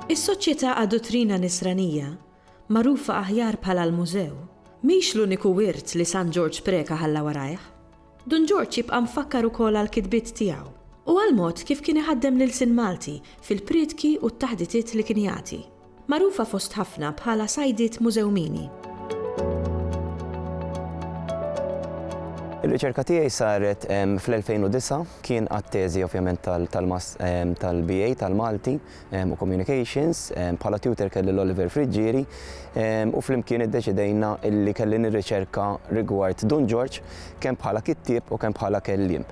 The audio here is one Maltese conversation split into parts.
Is-Soċjetà għad-Duttrina Nisranija, magħrufa aħjar bħala l-Mużew, mhix l-uniku wirt li San Ġorġ Preca ħalla warajh. Dun Ġorġ jibqa' mfakkar ukoll għall-kitbiet tiegħu u għall-mod kif kien iħaddem l-ilsien Malti fil-priedki u t-taħditiet li kien jagħti. Magħrufa fost ħafna bħala Sajdiet Mużewmini. Ir-riċerka tiegħi saret fl-2009, kien għat-teżi ovvjament tal-BA tal-Malti, u Communications, bħala tutor kelli l-Oliver Friggieri u flimkien iddeċidejna illi kelli nirriċerka rigward Dun Ġorġ kemm bħala kittieb u kemm bħala kelliem.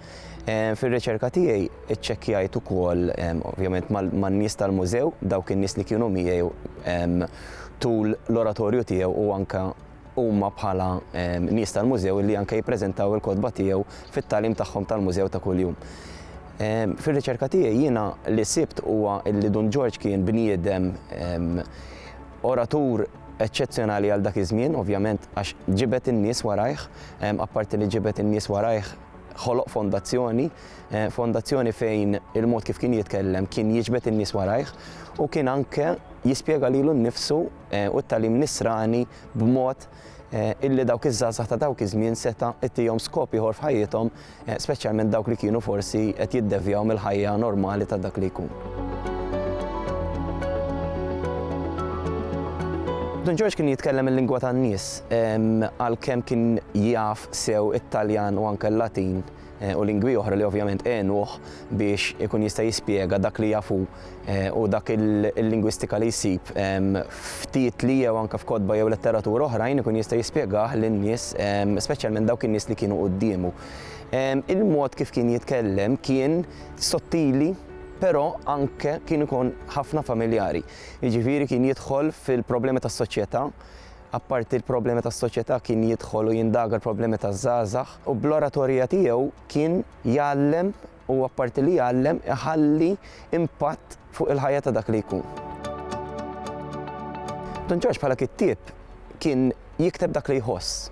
Fir-riċerka tiegħi iċċekkjajt ukoll ovvjament man-nies tal-mużew, dawk in-nies li kienu miegħi tul l-oratorju tiegħu u anke huma bħala nies tal-mużew li anke jippreżentaw il-kotba tiegħu fit-tagħlim tagħhom tal-mużew ta' kuljum. Fir-riċerka tiegħi jiena li sibt huwa li Dun Ġorġ kien bniedem oratur eċċezzjonali għal dak iż-żmien, ovvjament għax ġibed in-nies warajh, apparti li ġibed in-nies warajh ħoloq fondazzjoni, fondazzjoni fejn il-mod kif kien jitkellem kien jiġbed in-nies warajh u kien anke jispjega lilu nnifsu u t-tagħlim Nisrani b'mod illi dawk iż-żgħażagħ ta' dawk iż-żmien seta' ittihom skop ieħor f'ħajjithom, speċjalment dawk li kienu forsi qed jiddevjaw mill-ħajja normali ta' dak li jkun. Dun Ġorġ kien jitkellem il-lingwa tan-nies, għalkemm kien jaf sew it-Taljan u anke l-Latin, u lingwi oħra li ovvjament għenuh biex ikun jista' jispjega dak li jaf hu u dak il-lingwistika li jsib f'titli jew anke f'kotba jew letteratura oħrajn ikun jista' jispjegah lin-nies speċjalment dawk in-nies li kienu quddiemu. Il-mod kif kien jitkellem kien sottili però anke kien ikun ħafna familjari. Jiġifieri kien jidħol fil-problemi tas-soċjetà Apparti l-problemi tas-soċjetà kien jidħol u jindaga l-problemi taż-żgħażagħ u bl-oratorija tiegħu kien jgħallem u apparti li jgħallem iħalli impatt fuq il-ħajja ta' dak li jkun. Dun Ġorġ bħala kittieb kien jikteb dak li jħoss.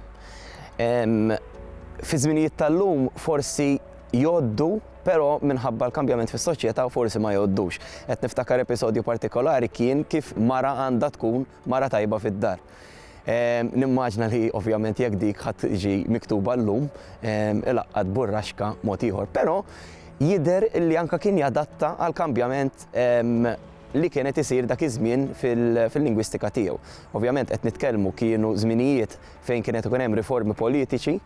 Fi żminijiet tal-lum forsi jgħoddu però minħabba l-kambjament fis-soċjetà forsi ma jgħoddux. Qed niftakar episodju partikolari kien kif mara għandha tkun Mara tajba fid-dar. Nimmaġna li ovvjament jekk dik ħadd tiġi miktuba llum, ilaqqat burraxka mod ieħor. Però jidher li anke kien jadatta għall-kambjament li kien qed isir dak iż-żmien fil-lingwistika tiegħu. Ovvjament qed nitkellmu kienu żminijiet fejn kien qed ikun hemm riformi politiċi,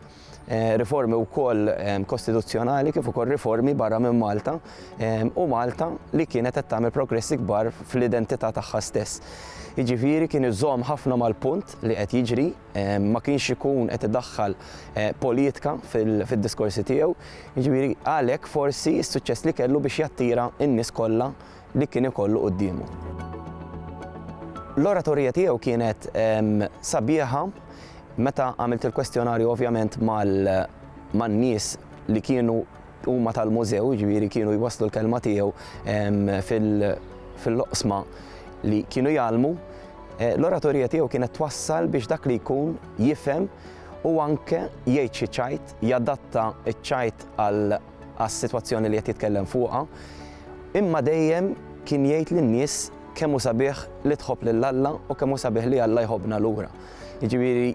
riformi wkoll kostituzzjonali kif ukoll riformi barra minn Malta u Malta li kienet qed tagħmel progressi kbar fl-identità tagħha stess. Jiġifieri kien iżomm ħafna mal-punt li qed jiġri, ma kienx ikun qed idaħħal eh, politika fid-diskorsi tiegħu, jiġifieri għalhekk forsi s-suċċess li kellu biex jattira n-nies kollha li kien ikollu quddiemu. L-oratorija tiegħu kienet sabiħa, meta għamilt il-kwestjonarju ovvjament man-nies li kienu huma tal-mużew, jiġifieri kienu jwasslu l-kelma tiegħu fil-loqsma li kienu jgħallmu, eh, l-oratorija tiegħu kienet twassal biex dak li jkun jifhem u anke jgħid xi ċajt, jadatta ċ-ċajt għal għas-sitwazzjoni li qed jitkellem fuqha, imma dejjem kien jgħid lin-nies kemm hu sabiħ li tħobb lil Alla u kemm hu sabiħ li Alla jħobbna lura. Jiġifieri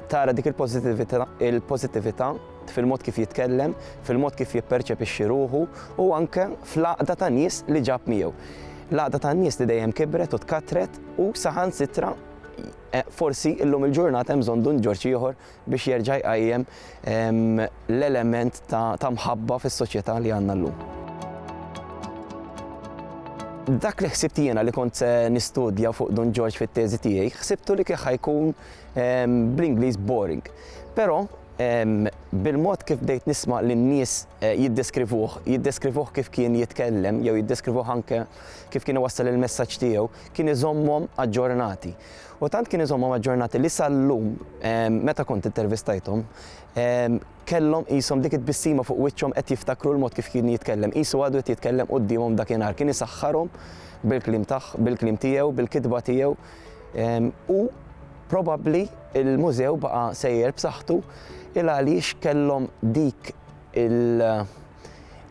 tara dik il-pożittività fil-mod kif jitkellem, fil-mod kif jipperċepixxi ruħu u anke fl-għaqda ta' nies li ġab miegħu. L-għaqda ta' nies li dejjem kibret u tkattret u saħansitra eh, forsi illum il-ġurnata hemm bżonn Dun Ġorġ ieħor biex jerġa' jqajjem l-element ta' mħabba fis-soċjetà li għandna llum. Dak li ħsibt jiena li kont se nistudja fuq Don George fit-teżi tiegħi, ħsibtu li kieħ ħajkun bl-Ingliż boring. Però bil-mod kif bdejt nisma' lin-nies eh, jiddeskrivuh, jiddeskrivuh kif kien jitkellem jew jiddeskrivuh anke kif kien iwassal il-messaġġ tiegħu, kien iżommhom aġġornati. U tant kien iżommhom aġġornati li sal-lum meta kont intervistajthom kellhom qishom dik it-tbissima fuq wiċċhom qed jiftakru l-mod kif kien jitkellem, qisu għadu qed jitkellem quddiemhom dakinhar, kien isaħħarhom bil-kliem tagħ, bil-kliem tiegħu, bil-kitba tiegħu u probabbli l-mużew baqa' sejjer b'saħħtu il għaliex kellhom dik il-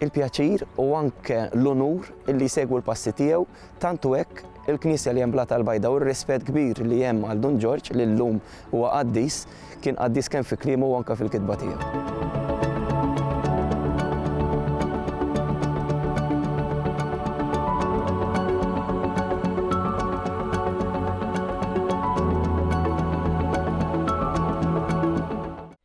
il-pjaċir u anke l-unur li jsegwu l-passi tiegħu tant u hekk il-Knisja li hemm Blata l-Bajda u r-rispett kbir li hemm għal Dun Ġorġ li llum huwa qaddis, kien qaddis kemm fi kliemu u anke fil-kitba tiegħu.